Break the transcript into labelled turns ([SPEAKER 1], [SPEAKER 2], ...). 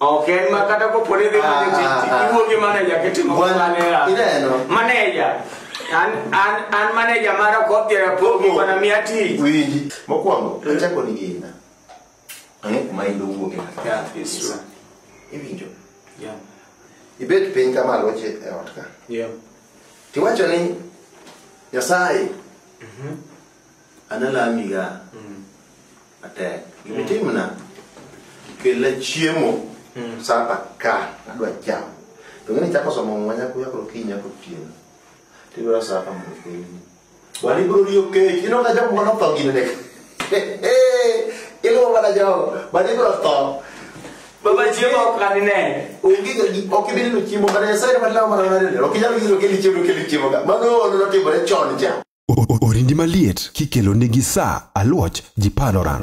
[SPEAKER 1] Ok en ma kata kopo ni dhi Ah, manyo tich, ah, ah. iwuo gi maneja kitimo Wan- maneja. ineno. Maneja. An an an maneja mara kodhi rapogi Ogo. bana miya tich. winji mokwongo achako ni gina ang'e kuma in dowuoke Yeah, it's true. iwinjo Yeah. ibet piny kama loche e ot ka Yeah. tiwacho ni nyasaye analamiga matek gima itimna kelna chiemo sapa ka adwa chamo to ng'eni chako somo muma nyako nyako okinyi nyako otieno tibiro sapa mondo kelni wan ibiro riyo kech ino ka jogo mano tho gine nek iluwo mana jogo wan ibiro tho Baba chiemo ok anine. onge ga gi ok ibi neno chiemo mana nyasaye ema lawo mana mana neno ok inyal giro keli chiemo keli chiemo ga mano ono notimore chon cha Orindi maliet kikelo nigi sa aluoch ji panoran.